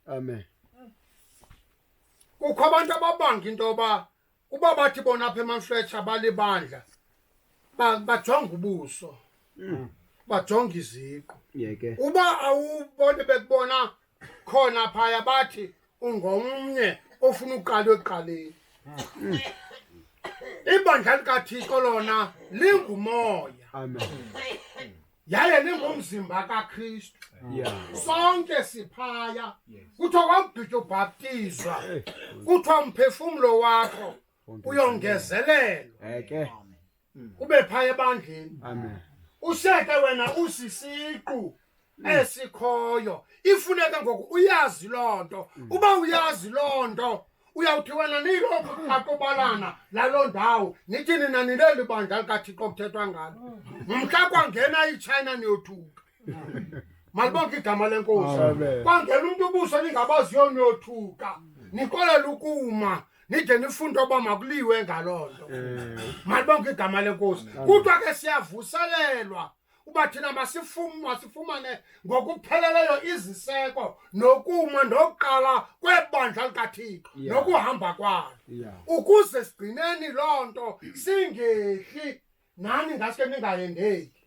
amen kukho abantu ababanga into yoba uba bathi bona apha emamfletsha balibandla ba- bajonga ubuso Mm. bajonga iziqu yeke uba awubone bekubona khona phaya bathi ungomnye ofuna uqala ekuqaleni ibandla likathixo lona lingumoya amen yaye ningumzimba kakristu Yeah. sonke siphaya Yes. kuthiwa kwamgqitya ubhaptizwa Eh, kuthiwa umphefumlo wakho konke uyongezelelwa Eke. ube phaya ebandleni Amen. useke wena usisiqu esikhoyo ifuneke ngoku uyazi loo nto uba uyazi loo nto uyawuthi wena niyilokhu akubalana laloo ndawo nithi nina nileli bandla likathixo kuthethwa ngalo mhla kwangena itshayina niyothuka malibonke igama lenkosi kwangena umntu ubuso ningabaziyo niyothuka nikolela ukuma nide nifunde oba makuliwe ngaloo nto eh. malibonke igama lenkosi kuthiwa ke siyavuselelwa uba thina masifumane ngokupheleleyo iziseko nokuma nokuqala kwebandla likathixo yeah. nokuhamba kwalo yeah. ukuze sigcineni loo nto singehli nani ngaske ningayendeki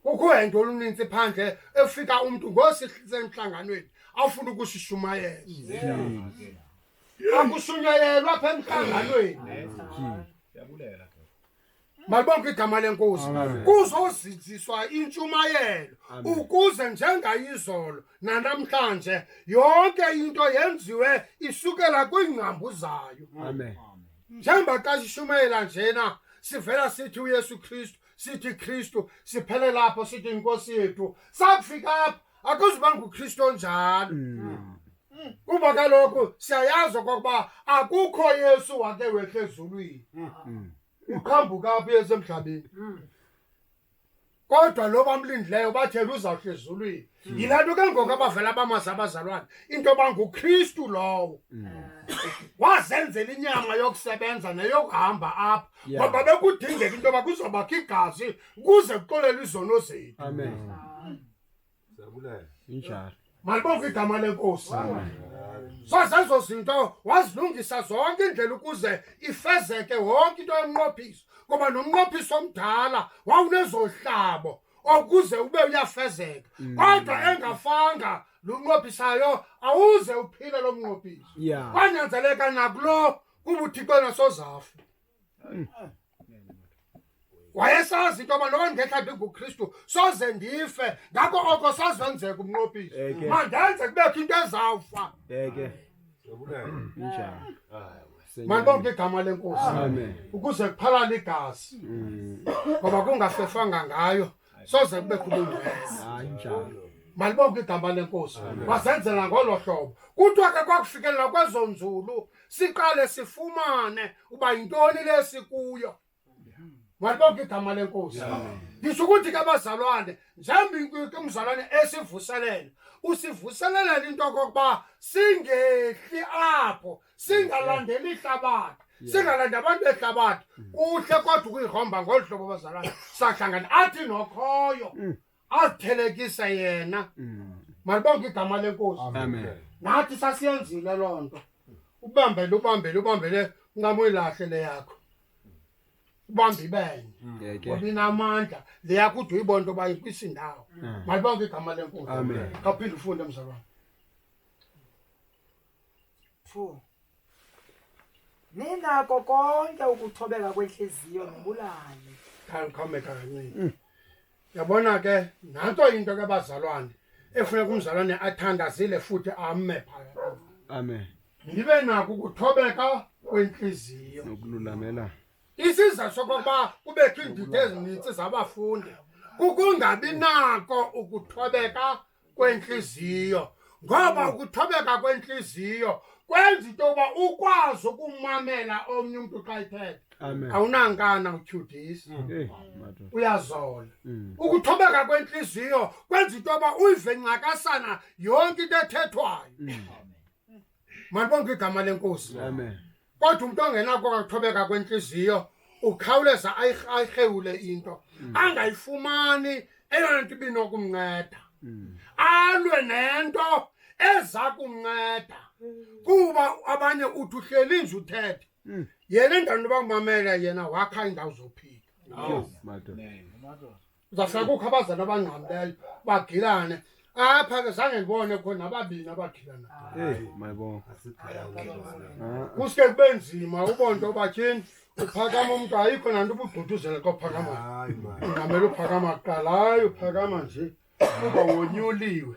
kukho ento oluninzi phandle efika umntu ngosisemhlanganweni afuna ukusishumayela yeah. yeah. akushunyayelwa apha emhlanganweni yeah. yeah. malibonke igama lenkosi kuzozinziswa intshumayelo ukuze njengayizolo nanamhlanje yonke into yenziwe isukela kwiingcambu zayo njengoba xa sishumayela njena sivela sithi uyesu kristu sithi kristu siphele lapho sithi inkosi yethu sakufika apha akuzubanga uKristu onjalo Mm. kuba kaloku siyayazi okokuba akukho Yesu wake wehla ezulwini Mm. uqhambuka apha uyesu emhlabeni kodwa lo bamlindileyo bathela uzawuhla ezulwini yilaa nto ke ngoku abavela bamazi abazalwane into yoba ngukristu lowo wazenzela inyama yokusebenza neyokuhamba apha Yeah. ngoba bekudingeka into yoba kuzobakho igazi ukuze kuxolelwe izono zethu Amen. injalo malibonke igama lenkosi sazezo zinto wazilungisa zonke indlela ukuze ifezeke wonke into yomnqophiso ngoba nomnqophiso omdala wawunezohlabo okuze ube uyafezeka mm. kodwa engafanga lo mnqophisayo awuze uphile lo mnqophiso kwanyanzeleka nakulo kuba uthixo nasozafu wayesazi into yoba loba ndingekhambi ngukristu soze ndife ngako oko sazenzeka umnqopisi Eke. mandenze kubekho into ezawufa Eke. Injalo. mandibonke igama lenkosi Amen. ukuze kuphalale igazi ngoba kungafefanga ngayo soze kube khululukeza hayi njalo malibonke bonke igama lenkosi wasenzela ngolo hlobo kuthiwa ke kwakufikelela kwezo nzulu siqale sifumane uba yintoni le sikuyo malibonke igama lenkosi ndisho ukuthi ke abazalwane njengoba ke umzalwane esivuselele usivuselelele into yokokuba singehli apho singalandeli ihlabathi singalandi abantu behlabathi mm. kuhle kodwa ukuyihomba ngolu hlobo bazalana sahlangana athi nokhoyo mm. azithelekise yena mm. malibonke igama lenkosi nathi sasiyenzile loo nto ubambele ubambele ubambele ncamoyilahle le yakho ubambe ibenye ngoba inamandla le yakho ude uyibona into yoba ikwisindawo malibonke igama lenkosi kaphinde ufunde mzalwana Two. Ninako konke ukuthobeka kwentliziyo nobulali. Khandiqhomeka kancinci. Mm. Yabona ke nanto into ke bazalwane efuneka umzalwane athandazile futhi ame phaya. Amen. Nibe nako ukuthobeka kwentliziyo. Nokululamela. Isizathu sokuba kubekho iindidi ezininzi zabafundi kukungabi nako ukuthobeka kwentliziyo ngoba mm. ukuthobeka kwentliziyo kwenza into yokuba ukwazi ukumamela omnye umntu xa ithetha awunankana utyhudisa mm. eh, uyazola mm. ukuthobeka kwentliziyo kwenza into yoba uyive ncakasana yonke into ethethwayo Malibonke igama lenkosi. Amen. Kodwa umuntu ongenako kathobeka kwenhliziyo ukhawuleza ayirhewule into mm. angayifumani eyona nto ibinokumnceda mm. alwe nento eza kumnceda mm. kuba abanye uthi uhleli nje uthethe yena endaweni yoba kumamela yena wakha iindawo zophila Uzawushaya kukho abazali abangxamileyo bagilane. Apha ke zange ndibone kukho nababini abagilana. Hey, my boy. Kuske kube nzima ubone into yoba tyhini uphakama umntu ayikho nanto ubugquduzela kophakama. Ungamele uphakama kuqala, hayi uphakama nje. Uba wonyuliwe.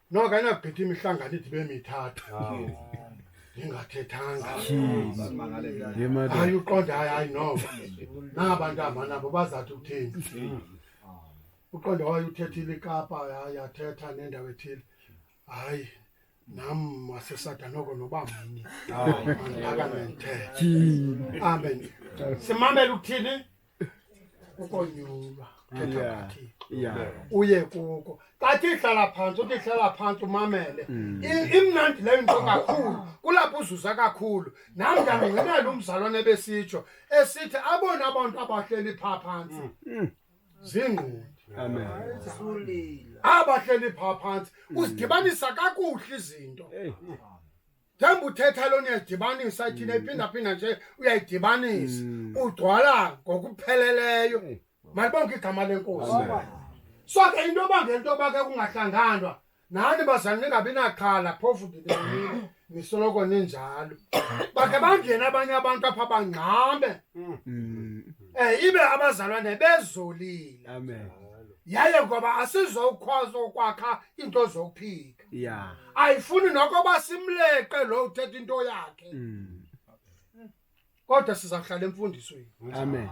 noko ayinagqitha imihlangano ide ibe mithathu ndingathethanga hayi uqonda hayi hayi noko naba ntamba nabo bazawuthi ukuthini uqonda waye uthethile ikapa hayi yathetha nendawo ethile hayi nam wasesada noko noba mnye mandibakane ndithethe amen simamele ukuthini ukonyulwa ethabathini yeah uye kuko xa tihlala phantsi utihlala phantsi umamele Mm. I- imnandi leyo nto kakhulu kulapho uzuza kakhulu nam ndandingenalo umzalwane ebesitsho esithi abona abantu abahleli phaa phantsi Mm. ziingqondi amen Sulila. abahleli phaa phantsi uzidibanisa kakuhle izinto Hey. njengoba uthetha loo niyayidibanisa thina mm. iphindaphinda nje uyayidibanisa mm. ugcwala ngokupheleleyo mm. malibonke igama lenkosi so ke into yoba ngento yoba ke kungahlanganwa nani bazali ningabi naxhala phofu ndinenile nisoloko ninjalo bakhe bangene abanye abantu apha bangxame um ibe abazalwane bezolile yaye ngoba asizokwazi ukwakha iinto zokuphila ya ayifuni nokoba simleqe lo uthetha into yakhe Mm. kodwa sizawuhlala emfundisweni amen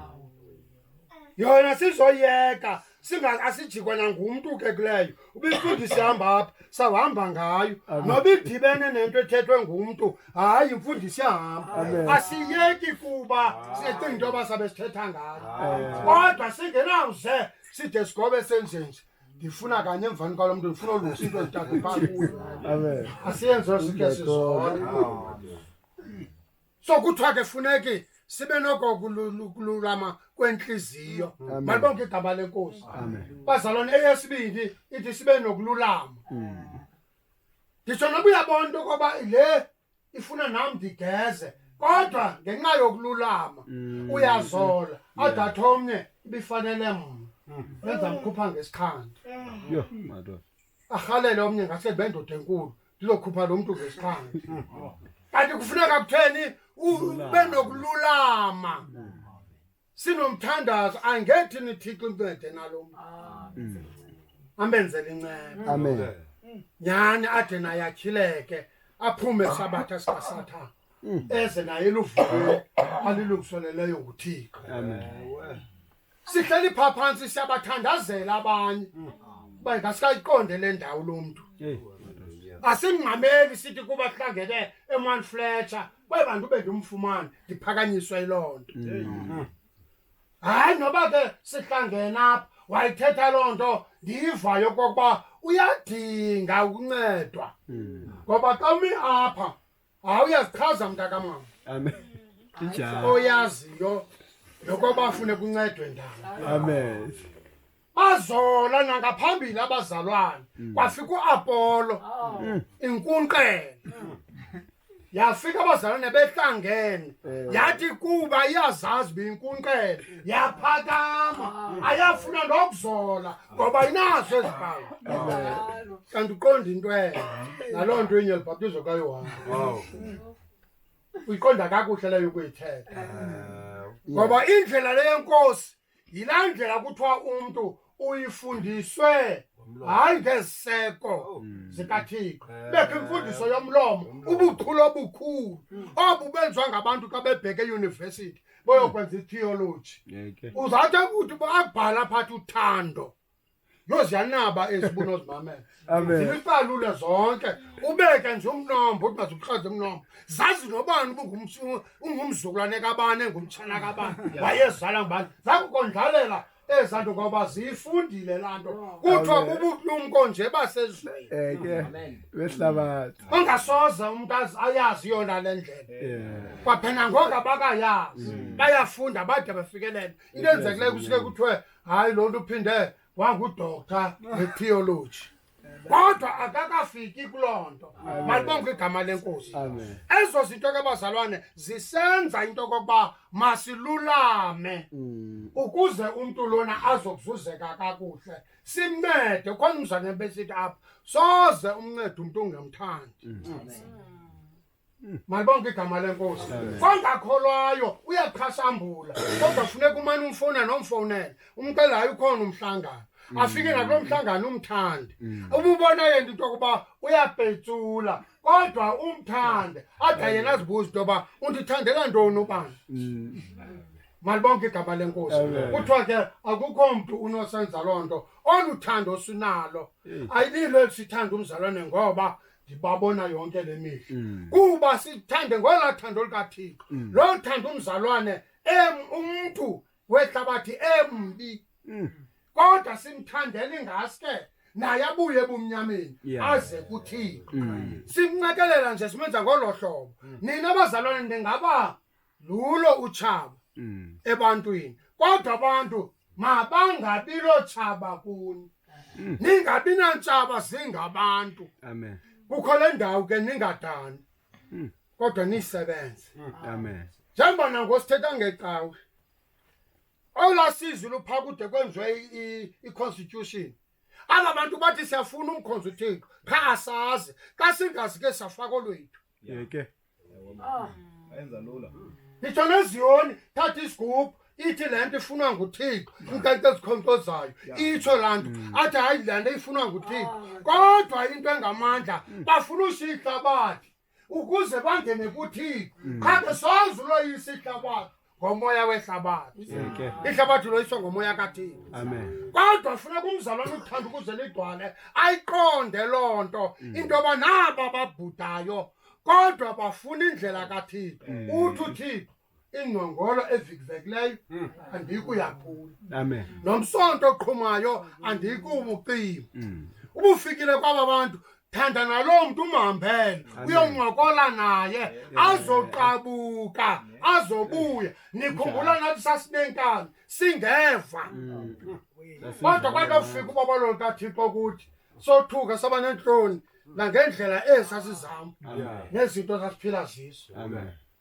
yona sizoyeka singa asijikwa nangumntu ke kuleyo ubimfundisi ihamba apha sawuhamba ngayo Amen. noba idibene nento ethethwe ngumntu hayi imfundisi Amen. yahamba asiyeki kuba sicinga into yoba sabe sithetha ngayo Amen. kodwa singenawuze side sigobe senjenje ndifuna kanye emvani kwalo mntu ndifuna olusa into ezithathe phaa kuyo Amen. asiyenzi loo sike sizona so kuthiwa ke funeki sibe noko kululama kwentliziyo Amen. malibonke igama lenkosi Amen. bazalwane eyesibini ithi sibe nokululama nditsho noba uyabona into yokoba le ifuna nam ndigeze kodwa ngenxa yokululama mm. uyazola adatha omnye ibifanele mna mm. benza mkhupha ngesikhandi arhalele omnye ngase bendoda enkulu ndizokhupha lo mntu ngesikhandi mm. kanti kufuneka kutheni ube nokululama sinomthandazo angethi nithixo incede nalo mntu ambenzele inceba amen nyhani ade naye atyhileke aphume sabatha sikasathana eze naye luvule alilungiseleleyo nguthixo sihleli phaa phantsi siyabathandazela abanye uba ngasikayiqonde le ndawo lo mntu asimngxameli sithi kuba sihlangene eman fletcher kwaye bantu bendimfumane ndiphakanyiswe yiloo nto mm. hayi noba ke sihlangene apha wayithetha loo nto ndiyivayo kokuba uyadinga ukuncedwa mm. ngoba xa umi apha hayi uyazichaza mntakamama oyaziyo nokoba afune kuncedwe ndalo amen bazola nangaphambili abazalwane mm. kwafika uApollo oh. mm. inkunqele mm. yafika abazalwane behlangene eh. yathi kuba iyazazi binkunqele yaphakama ah. ayafuna nokuzola ngoba inazo ezibhawu kanti uqonda into elo naloo nto inye libhaptizo kayohane uyiqonda kakuhle leyo ukuyithetha eh. ngoba indlela leyenkosi yilaa ndlela kuthiwa umntu uyifundiswe hayi ngeziseko oh. hmm. zikathixo eh. bekho imfundiso yomlomo ubuchule obukhulu hmm. obu benziwa ngabantu xa bebheke eyunivesithi boyokwenza itheoloji uzawuthi ukuthi abhala phathi uthando yho ziyanaba ezi bunozimamela Amen. zilipalule zonke ubeke nje umnombo uthi mazibuhlaze umnombo zazi nobani ubungumsu- ungumzukulwane kabani engumtshana kabani wayezala ngubani zakukondlalela eza nto ngoba ziyifundile laa nto kuthiwa Amen. bubulumko nje basezweni Eh ke Amen. wehlabathi. ongasoze umntu azi- ayazi yona le ndlela Yeah. kwaphela ngoku abakayazi bayafunda bade bafikelele into enzekileyo kusuke kuthiwe hayi lo nto uphinde wangudoktha wetheology kodwa akakafiki kuloo nto malibonke igama lenkosi ezo zinto ke bazalwane zisenza into okokuba masilulame mm. ukuze umntu lona azokuzuzeka kakuhle simncede khona umzane besithi apha soze umncede umntu ungemthandi mm. malibonke igama lenkosi kongakholwayo uyaqhasambula kodwa funeka umane umfowunele nomfowunele umcela hayi ukhona umhlangano mm. afike nakulo mhlangano umthande mm. ububona yena into yokuba uyabhetsula kodwa umthande ade mm. yena azibuza into yoba undithandela ntoni ubani malibonke igama lenkosi kuthiwa ke akukho mntu unosenza loo nto olu thando sinalo ayililo elisithanda umzalwane ngoba ndibabona yonke le mihla mm. kuba sithande ngolaa thando lukathixo mm. loo thando umzalwane em umntu wehlabathi embi mm. kodwa simthandela ingaske naye abuye ebumnyameni aze kuthixo simncekelela nje simenza ngolo hlobo nina abazalwane ndingaba lulo utshaba Mm. ebantwini kodwa abantu mabangabi lotshaba kuni Mm. ningabi nantshaba zingabantu Amen. kukho le ndawo ke ningadani Mm. kodwa nisebenze Amen. njengoba nango sithetha ngecawe olaa sizwe luphaa kude kwenziwe i- i- i-constitution aba bantu bathi siyafuna umkhonza uthixo qha asazi xa singazi ke safaka olwethu yeke Ah, enza lula nditsho neziyoni thatha isigubhu ithi le nto ifunwa nguthixo inkento ezikhonkcozayo Yeah. itsho laa nto athi hayi le nto ifunwa nguthixo kodwa into engamandla bafuna ushiya ihlabathi ukuze bangene kuthixo qha ke soze uloyisa ihlabathi ngomoya wehlabathi ihlabathi loyiswa ngomoya kathini kodwa funeka umzalwana uthanda ukuze ligcwale ayiqonde loo nto mm. into yoba naba babhudayo kodwa bafuna indlela kathixo mm. uthi uthixo ingqongolo evikivekileyo mm. andiyikuyaphula nomsonto oqhumayo andiyikuwubucima ubufikile kwaba bantu Thanda naloo mntu umhambele uyoncokola naye azoqabuka azobuya nikhumbula nathi sasineenkabi singeva mm. kodwa kwathi ofika ubaba loo kathixo kuthi sothuka saba neentloni nangendlela esa sizihamba nezinto sasiphila zizo